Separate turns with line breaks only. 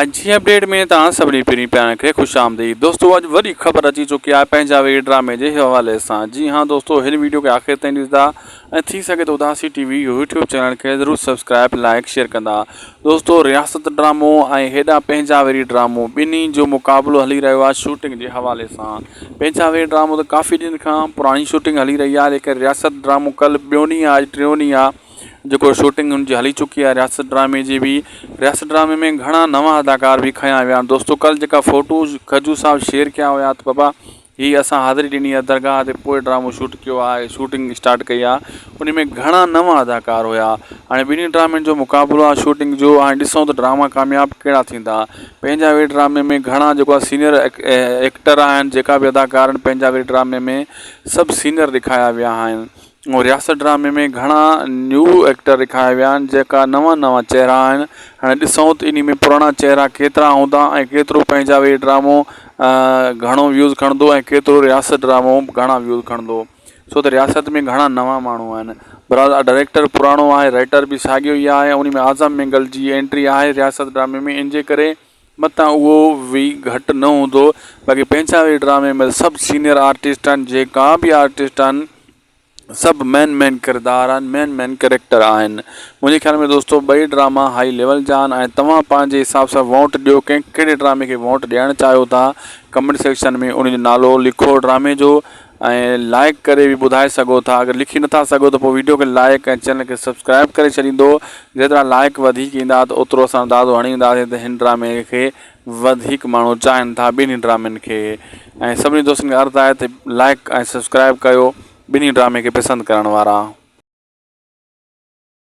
اڄ جي اپڊيٽ ۾ توهان سڀني پھرين پيارن کي خوش آمديد دوستو اڄ وڏي خبر اچي چڪي آهي پنهنجا ويء ڊرامي جي حوالي سان جي ھا دوستو ھن ويڊيو کي آخر تائين ڏسدا ۽ ٿي سگهي ته اداسي ٽي وي يوٽيوب چينل کي ضرور سبسڪرائب لائيڪ شيئر ڪندا دوستو رياست ڊرامو ۽ ھيڏانهن پنهنجا ويري ڊرامو ٻنهي جو مقابلو ھلي رهيو آهي شوٽنگ جي حوالي سان پنهنجا ويري ڊرامو ته ڪافي ڏينھن کان پراڻي شوٽنگ ھلي رهي آهي ليڪن رياست ڊرامو ڪل ٻيو ڏينهن آهي اڄ ٽيون ڏينهن آهي جيڪو شوٽنگ ان جي هلي چڪي آهي رياست ڊرامي جي بي رياست ڊرامي ۾ گهڻا نوان اداڪار بي کنيا ويا آهن دوستو ڪل جيڪا فوٽوز کجو صاحب شيئر ڪيا هيا ته بابا هي اسان حاضري ڏني آهي درگاهه تي پوء ڊرامو شوٽ ڪيو آهي شوٽنگ اسٽارٽ ڪئي آهي ان ۾ گهڻا نوان اداڪار هيا هاڻي ٻنهي ڊرامن جو مقابلو آهي شوٽنگ جو هاڻي ڏسون ته ڊراما ڪامياب ڪهڙا ٿيندا پنهنجا وي ڊرامي ۾ گهڻا جيڪو آهي سينيئر ايڪٽر آهن جيڪا بي اداڪار آهن پنهنجا وي ڊرامي ۾ سڀ سينيئر ڏيکايا ويا آهن رياست ڊرامي ۾ گهڻا نيو ايڪٽر رکايا ويا آهن جيڪا نوان نوان چهرا آهن هاڻي ڏسون ته انهي ۾ پراڻا چهرا ڪيترا هوندا ۽ ڪيترو پنهنجا ويهه ڊرامو گهڻو ويوز کڻندو ۽ ڪيترو رياست ڊرامو گهڻا ويوز کڻندو ڇو ته رياست ۾ گهڻا نوان ماڻهو آهن برحال ڊائريڪٽر پراڻو آهي رائيٽر به ساڳيو ئي آهي ان ۾ اعظم مينگل جي اينٽري آهي رياست ڊرامي ۾ ان جي ڪري متان اهو وي گهٽ نه هوندو باقي پنهنجا وي ڊرامي ۾ سڀ سينئر آرٽسٽ آهن جيڪا به آرٽسٽ آهن سڀ مين مين ڪردار آهن مين مين ڪريڪٽر آهن منهنجي خيال ۾ دوستو ٻئي ڊراما هائي ليول جا آهن ۽ توهان پنهنجي حساب سان ووٽ ڏيو ڪنهن ڪهڙي ڊرامي کي ووٽ ڏيڻ چاهيو ٿا ڪمينٽ سيڪشن ۾ ان جو نالو لکو ڊرامي جو ۽ لائيڪ ڪري به ٻڌائي سگهو ٿا اگر لکي نٿا سگهو ته پوء ويڊيو کي لائيڪ ۽ چينل کي سبسڪرائيب ڪري ڇڏيندو جيترا لائيڪ وڌيڪ ايندا ته اوترو اسان اندازو هڻي وينداسين ته هن ڊرامي کي وڌيڪ ماڻهو چاهن ٿا ٻنهي ڊرامن کي ۽ سڀني دوستن کي عرض آهي ته لائيڪ ۽ سبسڪرائيب ڪيو ٻنهي ڊرامي کي پسند ڪرڻ وارا.